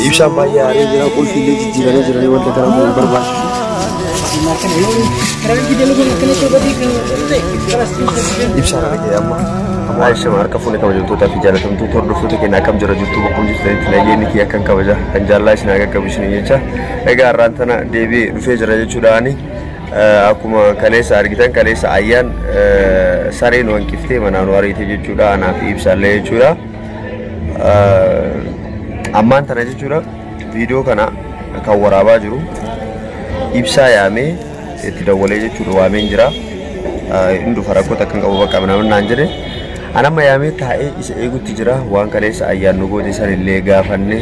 Ibsaan baay'ee aaree jira. Qulfii illee jijjiiranii jiranii wanta kana nu barbaachisu. Ibsaan argee amma. Amma Aisha harka fuune kabajamtootaa fi jaalatamtuu hordoftoota keenya akkam jira jirtu bakkum jirtanitti nageenyi kiyya akkan kabaja kan jaallaa isin haga qabu isin jecha egaa har'aan tana deebi'ee dhufee jira jechuudhaani akkuma kaleessa argitan kaleessa ayyaan sareen wanqiftee manaan wareete jechuudha anaa fi ibsaallee jechuudha. Ammaan tana jechuudha viidiyoo kana kan waraabaa jiru ibsaa yaamee itti dawwalee jechuudha waameen jira. Inni dhufa rakkoota akkan qabu bakka namni naan jedhe. An amma yaamee taa'ee isa eegutti jira waan kaleessa ayyaannu booda san illee gaafanne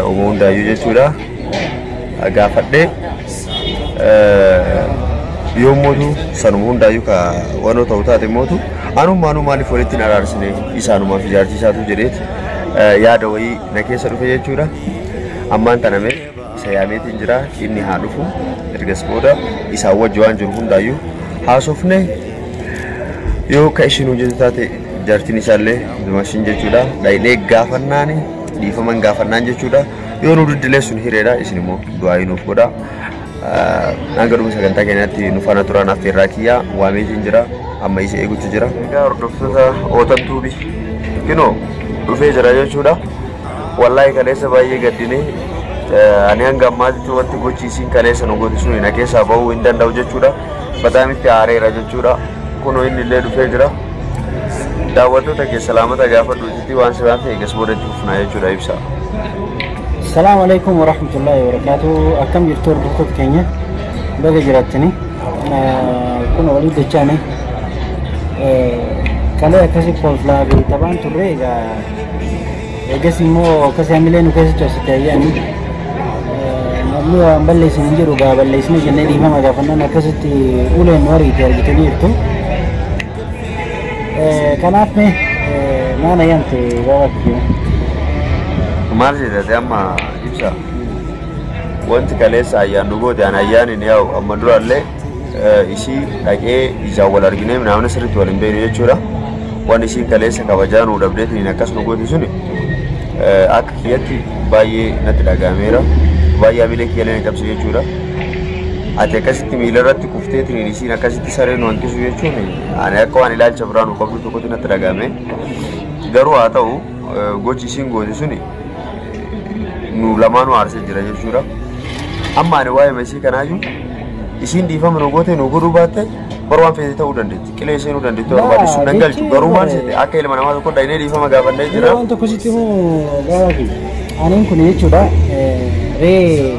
uuma hundaayyuu jechuudha. gaafadhe yoo mootu sanuma hundaayyuu ka wanoo ta'u taate mootu anummaanuu maaliif walitti hin araarsine isaanumaaf ijaartii isaatu jedheet yaada wayii na keessa dhufe jechuudha ammaan tana mee isa yaameetiin jira inni haa dhufu ergas booda isaa wajji waan jiru hundaayyuu haasofne yoo ka ishiin hojjetu taate jaartiin isaallee dumashin jechuudha dhaydhee gaafannaani dhiifaman gaafannaan jechuudha Yoo nu diddilee sun hireedha isin immoo du'aa nuuf godha. Hanga dhuma sagantaa keenyaatti nu faana turaan affeerraa kiyyaa waameetiin jira amma isa eeguutu jira. Egaa hordoftoota ootan tuubi kinoo dhufee jira jechuudha. Wallaahi kaleessa baay'ee gaddinee ani hanga ammaatti wanti gochi isiin kaleessa nu godhisu hin keessaa bahuu hin danda'u jechuudha. Bataamitti aareera jechuudha. Kunoo inni illee dhufee jira. Daawwattoota keessa laamata gaafadhu. Fi waan si baafte eegas booda itti fufnaa jechuudha ibsa. Salaamu alaikum wa rahmatullahi wa barakaatu. Akkam jirtu hordoftoota keenya baga jiraattani. Kun walii jechaani kalee akkasii kolflaa fi taphaan turre egaa eegas immoo akkasii hamilee nu keessa cabsite ayyaanni. Namni waan balleessin hin jiru gaa balleessine jennee dhiifama gaafannaan akkasitti uleen nu ariite argitanii jirtu. Kanaaf mee maana yamte waawaa kijimu. Maal jedhate amma ibsa. Wanti kaleessa ayyaan nu goote an ayyaan hin yaa'u amma durallee eh, ishii dhaqee ijaan wal arginee naamni sirriitti wal hin beekne jechuudha. Waan ishiin kaleessa kabajaa nu dhabdeetiin akkas nu goote suni eh, akka kiyyatti baay'ee natti dhaga'ameera. Baay'ee hamilee kiyyalee na cabse jechuudha. Ati akkasitti miila irratti kufteetiin ishiin akkasitti sareen wantisu jechuun ani akka waan ilaalcha biraa nu qabdu tokkotti natti dhaga'ame garuu haa ta'u eh, gochi isiin goote suni eh, nu lamaanuu aarsee jira jechuudha amma ani waa'ee isii kanaayyuu isiin dhiifama nu goote nu godhuu baatte bar waan feete ta'uu dandeetti qilee ishee nu dandeetti waan baadde sun nan galchu garuu maal seete akka ilma namaa tokko dhaynee dhiifama gaafannee jira Waan tokko sitti hoo gaafatu. Aniin kun jechuudha eh, ree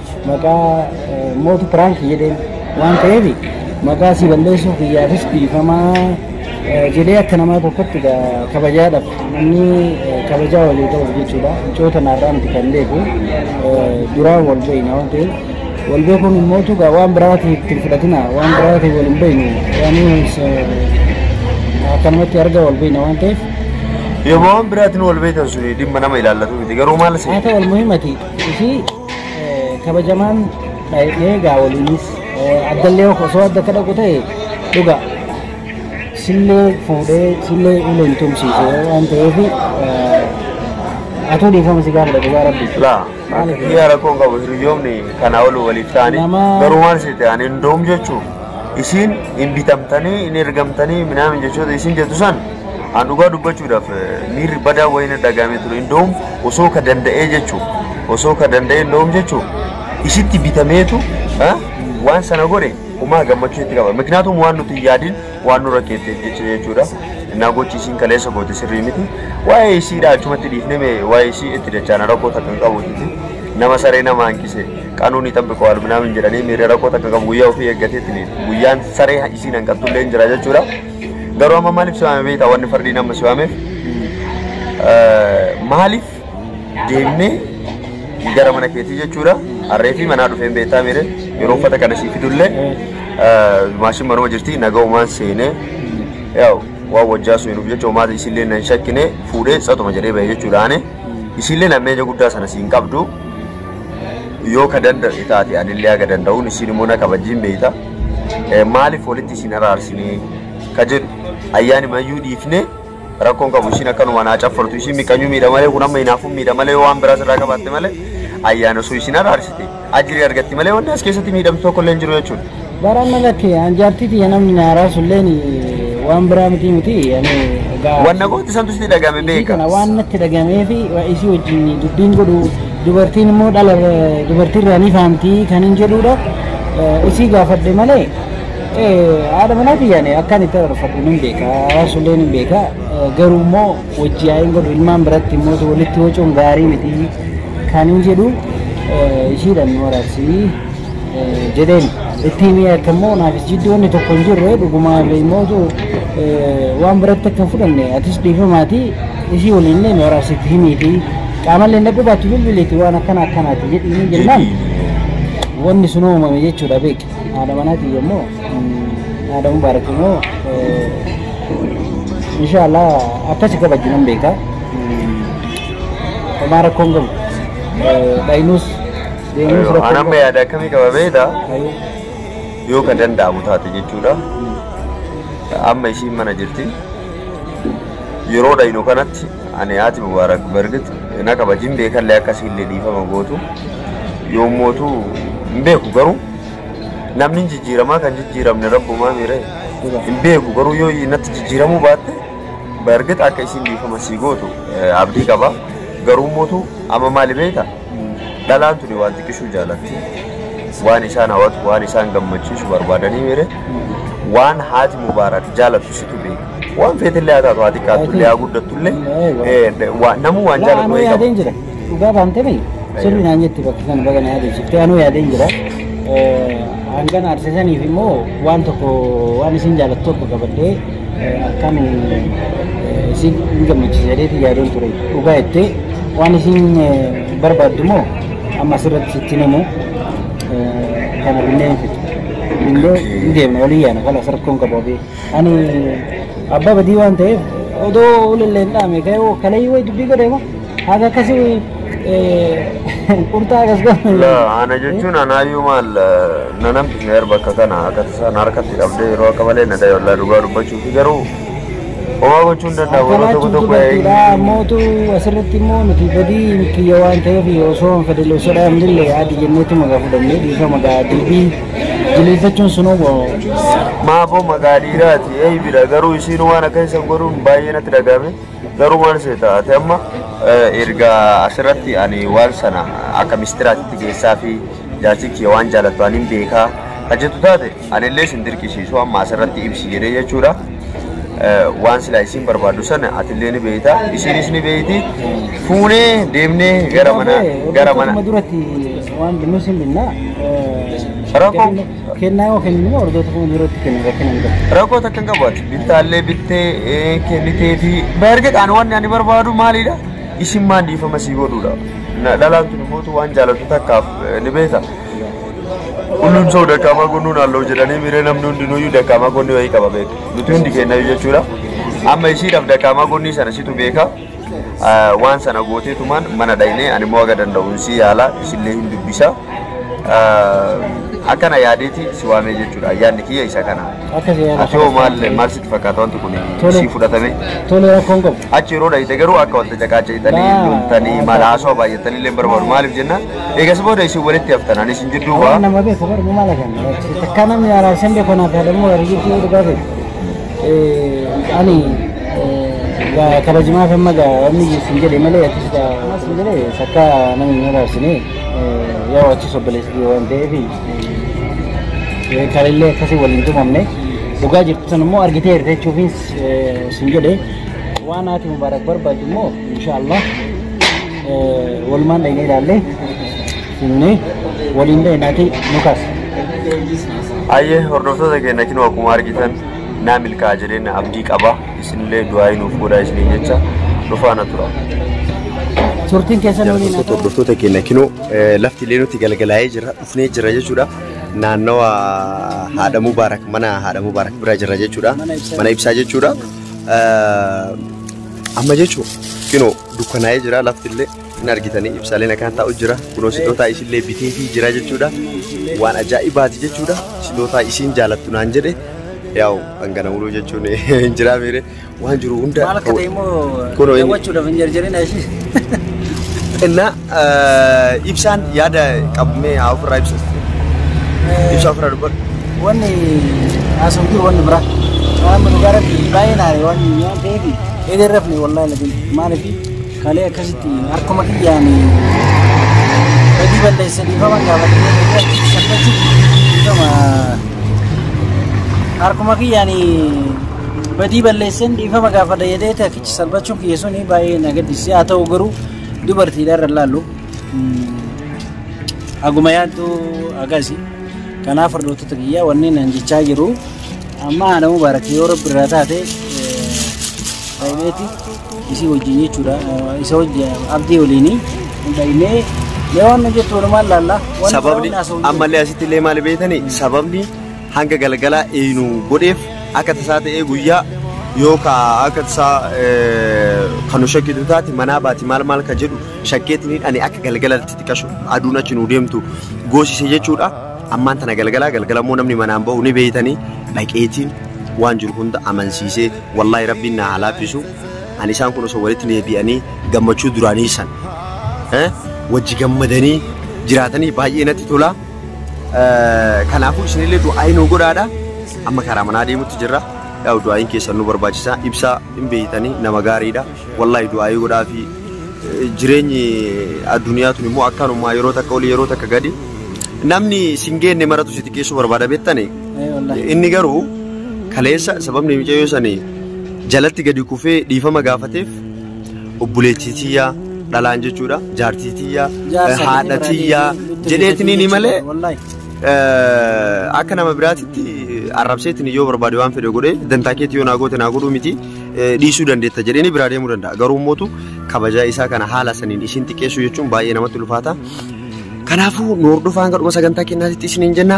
Maqaa mootu piraanki jedheen waan ta'eef maqaa si balleessuu kiyyaafis dhiifamaa jedhee akka namaa tokkotti kabajaadhaaf namni kabajaa walii ta'uuf jechuudha. Micoota naarraa miti kan beeku duraan wal beekna waan ta'eef wal beekuun immoo tugaa waan biraatiif itti fudhatina waan biraatiif wal hin beeknu waan akkanumatti arga wal beekna waan ta'eef Yooma waan biraatiin wal beektan suni dhimma nama ilaallatu miti garuu maal haa ta'u almuhimati isii kabajamaan dhaa'ee egaa waliinis addallee osoo adda akka dhaqu ta'e dhuga sillee fuudhee sillee uleen tumsiise waan ta'eef atuu dhiifama si gaafadha dhugaa rabbi. Laa, yaa rakkoon qabu hiriyoomni kanaa ol waliif ta'anii Nama- garuu waan isin ta'an hin doom jechuun isin hin bitamtanii hin ergamtanii minaamin jechoota isin jettu san An dhugaa dubbachuudhaaf miirri badaa wayina dhagaame ture. Indoom osoo ka danda'ee jechuu osoo ka danda'ee indoom jechuu isitti bitameetu waan sana godhe umaa gammachuu itti qaba. Miknaatum waan nuti yaadin waan nurra keettee jecha jechuudha. Innaa gochi isiin kaleessa goote sirrii miti. Waa'ee isiidha achumatti dhiifneme waa'ee isii itti dachaana rakkoo takka hin qabu titi. Nama saree nama hanqise qanuun ni xabbiqoo alminaamin jedhanii miirri rakkoo takka qabu guyyaa ofii eeggateetti guyyaa saree isiin hanqattullee hin jira jechuudha. Garuu amma maaliif si waame beektaa wanni fardiin amma si waameef maaliif deemnee gara mana keetii jechuudha harree fi manaa dhufeen beektaa miire yeroo uffata kana sii fidullee maashin manuma jirti naga umaan seenee yaa'u waan wajjaa sun hinuuf jecha umaata isillee nan shakkine fuudhee tsatuma jedhee bahee jechuudha ani isillee nammeenya guddaa sana siin qabdu Yoo ka danda'e taate anillee haga danda'uun isin immoo na kabajiin beeyta. Eh, Maaliif walitti isin araarsinee ka jedhu ayyaani mayyuu dhiifnee rakkoon qabu isin akkanuma naa caffartu isin miqanyuu miidha malee kun amma hinaafuun miidha malee yoo waan biraas irraa qabaatte malee ayyaana osoo isin araarsite ajirii argatti malee wanni as keessatti miidhamtu tokko illee hin jiru jechuudha. Baraan na lakkee an jaartii tiyya namni na araasulleen waan biraa miti miti ani egaa Wanna gooti santu sitti dhagame isii beeka. kana waan natti dhagamee fi isii wajjin dubbiin godhu dubartiin immoo dhala dubartiirraa ni faamtii kan hin jedhuudha Eh, isii gaafadhe malee eh, haadha manaa tiyyaan akkan itti arfadhu nan beeka araasulleen hin beeka Eh, garuu immoo wajji yaa'iin godhu ilmaan biratti immoo walitti wacuun gaarii miti kan hin jedhu eh, ishiidhaan nu araarsii. jedheen itti himee akka immoo naaf jiddu wanni tokko hin jirre dhugumaa beekmootu waan biratti akka hin fudhanne atis dhiifamaati ishii waliin illee nu araarsitti himii fi qaamallee na qubaatti bilbileeti waan akkana akkanaati jedhanii jennaan wanni sun uumame jechuudha beeki haadha manaati immoo haadha mubaarak immoo inshaallah akkasi kabajju nan beeka homaa rakkoon qabu dhayinuus deemuus rakkoo Anamma qaba. yaada akkamii qaba beekta? Hayyee. Yoo ka danda'amu taate jechuudha. Amma ishiin mana jirti. Yeroo dhaynu kanatti ani haati Mubaarak bargit na kabajin beekallee akka siillee dhiifama gootu. Yoo mootu hin beeku garuu namni hin jijjiiramaa kan jijjiiramne rabbumaa miire hin beeku garuu yoo natti jijjiiramuu baatte bargit akka ishiin dhiifama sii gootu eh, abdii qaba. Garuu mootu amma maali beekta? Dhalaan tuni waan xiqqishuu jaalatti. Waan isaan hawatu, waan isaan gammachiisu barbaadanii mire. Waan haati Mubaarak jaalatu situ beeka. Waan feetillee haa taatu, haa xiqqaattullee, haa guddattullee, eh, waa- namuu waan jaalatu Anuu wayii qaba. yaadeen jira. Dhugaa baantee miti. Sirri naan jetti bakka kana baga na yaadachiifte. Anuu yaadeen jira. Eh, Hangan arsisaniif immoo waan tokko waan isin jaalattu tokko qabadhee Akkaan si hin gammachiisa jedheeti yaadoon ture. Dhugaa jettee waan isiin barbaaddu immoo amma asirratti sitti hin himu. Kana binnee hin fiddu. Binnee hin deemna walii yaana kan as rakkoon qabu abee. Ani abbaa badii waan ta'eef odoo ulillee hin dhaame ka'ee kalayii wayi dubbii godheema. Haga akkasi qurxaa akkas godhu. La ana jechuun anaayyuu maal na namtisne erba akka kana akka tasaa na harkatti qabdee yeroo akka malee na dhaye wallaa dhugaa dubbachuu fi garuu homaa gochuu hin danda'amu yeroo Akkanaa tokko cimtuu tokko galtiidha. eeyyuu Ammootu asirratti immoo nuti badii kiyya waan ta'eef osoo hin fedhille osoo dhaabnille yaadi jenneetu magaa fudhannee dhiifama gaadii fi jileeffachuun sun obbo maafoo maqaa dhiiraati eeybidha garuu isiin waan akka isan godhuun baay'ee natti dhaga'ame Garuu maal seeta ati amma erga asirratti ani waan sana akka mistiraatitti geessaa fi jaarsi kiyya waan jaalatu ani hin beekaa kan jettu taate anillee sin dirqisiisu amma asirratti ibsi jedhee jechuudha. Waan silaa isiin barbaaddu sana atillee ni beekta isiinis ni beekti fuunee deemnee gara mana gara mana. Duratti waan nuus hin dhinnaa. Rakkoo. Kennaa yoo kennine hordoftoota fuula duratti kenna rakkina hin qabu. Rakkoo takka hin qabu ati bittaallee bittee ee, kennitee fi baargee qaana wanni ani barbaadu maalidha isin maan dhiifama sii godhuudha Na- dhalaan tun immoo tu waan jaalatu takkaaf eh, ni beeka Hullum soo dakaamaa gonnuun halluu jedhanii miiree namni hundinuyyuu dakaamaa gonni wayii qaba beeka nuti hundi kennayu jechuudha amma ishiidhaaf dakaamaa gonnii sana situ beeka waan sana gooteetumaan mana dhaynee ani immoo haga danda'uun si yaala isillee hin dubbisa akkana yaadeeti si waamee jechuudha yaadni kiyya isa kana ati hoo maal maal sitti fakkaata wanti kun si fudhatame Tole rakkoon qabu. achi yeroo dhayite garuu akka wanta caqaaca'itanii loltanii maal haasoo baay'atanii illee barbaadu maaliif jenna eegas booda isin walitti haftan ani isin jidduu waa Nama beeku barbu maal akan. Takka namni araarsan beeku naaf yaadamu warri jibbuu dhugaa beeku. ani kabajimaaf amma gaa wanni sin jedhe malee atis gaa sin jedhe sakka namni hin araarsine yoo achis obboleessi kiyya waan ta'eef kalillee akkasii waliin tumamne dhugaa jirtu san immoo argitee jirte jechuufiin sin jedhe waan haati mubaarak barbaaddu immoo inshaallah walumaan dhaynee ilaallee Simnee waliin ta'e nati nu kaasa. Hayyee hordoftoota keenya kinoo akkuma argitan naa milkaa'a jedheen abdii qaba. Isinillee du'aayii nuuf godhaa isiniin jecha nu faana tura. Turtiin keessan waliin haa ta'u. Hordoftoota keenya kinoo lafti illee nutti galgalaa'ee jira dhufnee jira jechuudha. Naannawa haadha Mubaarak mana haadha Mubaarak bira jira jechuudha. Mana ibsaa jechuudha. Amma jechuun kinoo dukkanaa'ee jira lafti illee. Hin argitanii ibsaaleen akkaan taa'u jira. Kunoo sitootaa isillee bitee fi jira jechuudha. Waan ajaa'ibaati jechuudha. Sitootaa isiin jaalattu naan jedhe. Yaa'u hangana muluu jechuun hin jiraa miire. Waan jiru hunda. Maal akka ta'e immoo Kunoo inni- daawwachuudhaaf hin jarjarina ishii. Innaa eh, ibsaan yaada qabmee haa ofirraa ibsatu. Ibsaa ofirraa dubbadhu. Wanni haasa'u jiru wanni biraa. Waan dhugaa irratti baay'ee naare waan waan ta'eef eegarrafne wallaahi lakin maaliif Kalee akkasitti harkuma kiyyaan badii balleessa dhiifama gaafatanii calqachuuf dhiifama harkuma kiyyaan badii balleessan dhiifama gaafadha jedhee takkichi salphachuun kiyya sun baay'ee na gaddisiise haa ta'u garuu dubartiidha irra laallu haguma yaaddu agasi kanaaf hordoftoota kiyya wanni nan jechaa jiru amma haadha mubaarak yoo rabbi irraa taate baay'eeti. Isii wajjin jechuudha. Isa wajjin abdii waliin dhaynee mee waan jettu walumaan laalla. Sababni ammallee asitti illee maali beektani sababni hanga galgalaa eeynu godheef akka tasaa ta'ee guyyaa yoo ka akka tasaa kan nu shakkitu taate manaa baati maal maal ka jedhu shakkeetini ani akka galgalatti xiqqashu aduun achi nu deemtu goosise jechuudha. Ammaan tana galgalaa galgala immoo namni manaan bahu ni beektani dhaqeetiin waan jiru hunda amansiisee Wallahi Rabbiin naa haa laaffisu ani isaan kun osoo walitti deebi'anii gammachuu duraanii san eh, wajji gammadanii jiraatanii baay'ee natti tola Eh, kanaafuu isinillee du'aayi nuu godhaadha amma karaa manaa deemutti jirra yaa'u du'aayiin keessan nu barbaachisa ibsaa hin beeytanii nama gaariidha wallahi du'aayi godhaa fi eh, jireenyi addunyaa tun immoo akkanumaa yeroo takka oli yeroo takka gadi namni sin geenne maratu si xiqqeessuu barbaada beektanii Inni garuu kaleessa sababni mucayyoo sani jalatti gadi kufee dhiifama gaafateef obboleettii tiyyaa dhalaan jechuudha jaartii tiyyaa haadha tiyyaa jedheetiniini malee akka nama biraatitti arrabseetiin yoo barbaade waan fedhe godhee dantaa keetti yoo naa goote naa godhuu miti dhiisuu dandeetta jedheeni biraa deemuu danda'a garuu mootu kabajaa isaa kana haala saniin ishiin xiqqeessuu jechuun baay'ee namatti ulfaata. Kanaafuu nu hordofaa hanga dhuma sagantaa keenyaatti isiniin jenna.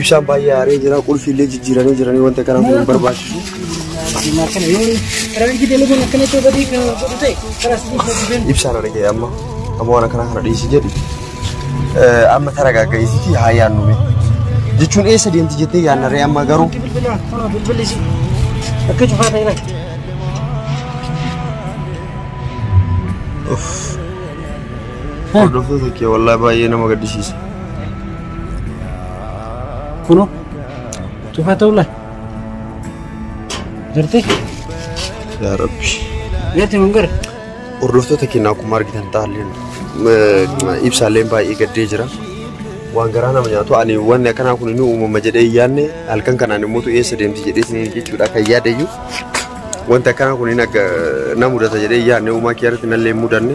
Ibsaan baay'ee aaree jira. Qulfii illee jijjiiranii jiranii wanta kana kun hin barbaachisu. Ibsaan argee amma amma waan akkana kana dhiisi jedhi. Amma taragaagga'iisiiti haa yaannume. Jechuun eessa deemti jettee yaannaree amma garuu. Akka cufaa ta'e laata? Hordoftoota kee wallaahi baay'ee nama gaddisiisa. Kuno. Cufa ta'uu laa. Jirti? Yaa Rabbi. Natti mun gara. Hordoftoota keenya akkuma argitan taalleen ibsaalleen baay'ee gaddee jira. Waan garaa nama nyaatu ani wanni akkanaa kun ni uumama jedhee hin yaadne halkan kanaan immoo eessa deemti jedhee isin jechuudha kan yaadayyu. Wanti akkanaa kun na mudata jedhee hin yaadne uumaa kiyyaarratti nallee hin mudanne.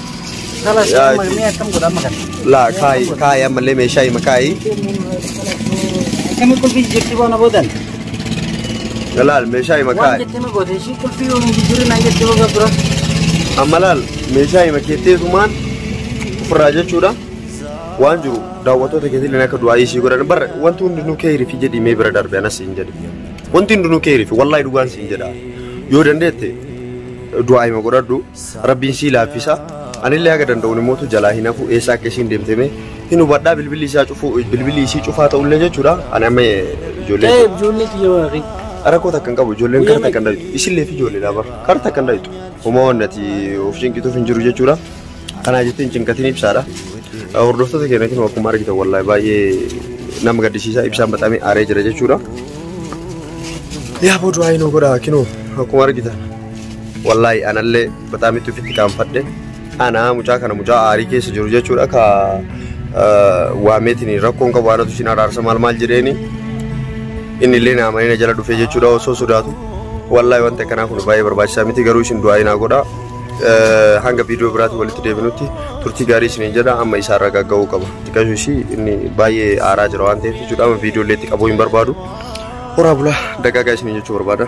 Kalas Yaa, amma mee akkam godha amma kana. Laa kaayi kaayi ammallee meeshaa hima kaayi. Akkami qulfii jijjiirti boona boodan. Laal meeshaa hima Waan kaayi. jettee ma goote ishii qulfii yoo hin jijjiirri naan jettee boga dura. Amma laal meeshaa hima keettee sumaan ofirraa jechuudha. Waan jiru daawwattoota keetillee akka du'aa ishii godhan bara wanti hundinuu keeyri fi jedhii mee bira darbe anas siin jedhe. Wanti hundinuu keeyri fi wallaahi dhugaan siin jedha. Yoo dandeette du'aa hima godhadhu. Rabbiin sii laaffisa anillee haga danda'uun immootu jalaa hin hafu eessa akka isiin deemte mee hin hubadhaa bilbilli isaa cufuu bilbilli isii cufaa ta'ullee jechuudha ani amma ijoollee Ta'e ijoollee kiyya waaqii. rakkoo takka hin qabu ijoolleen kara takka hin dhabitu isillee fi ijoolleedha bar kara takka hin dhabitu homaa waan ati of cinqituuf hin jiru jechuudha kanaa jettee hin cinqatiin ibsaadha hordoftoota keenya kun akkuma argitan wallaahi baay'ee nama gaddisiisa ibsaan baxamee aaree jira jechuudha yaa booduu aayinoo godhaa kinoo akkuma argitan Wallaahi anallee bataa mitti ofitti qaanfadhe. Anaa mucaa kana mucaa aarii keessa jiru jechuudha ka waameetiin rakkoon qabu aanatu isin araarsa maal maal jedheeni inni illee na amanee na jala dhufee jechuudha osoo sodaatu. Wallaahi wanti akkanaa kun baay'ee barbaachisaa miti garuu isin du'aa inaa godha. Hanga viidiyoo biraatti walitti deebinutti turtii gaarii isiniin jedha amma isaa irra gagga'uu qaba. Xiqqashu ishii inni baay'ee aaraa jira waan ta'eef jechuudha amma viidiyoo illee itti qabuu hin barbaadu. Horaa bulaa dagaagaa isiniin jechuu barbaada.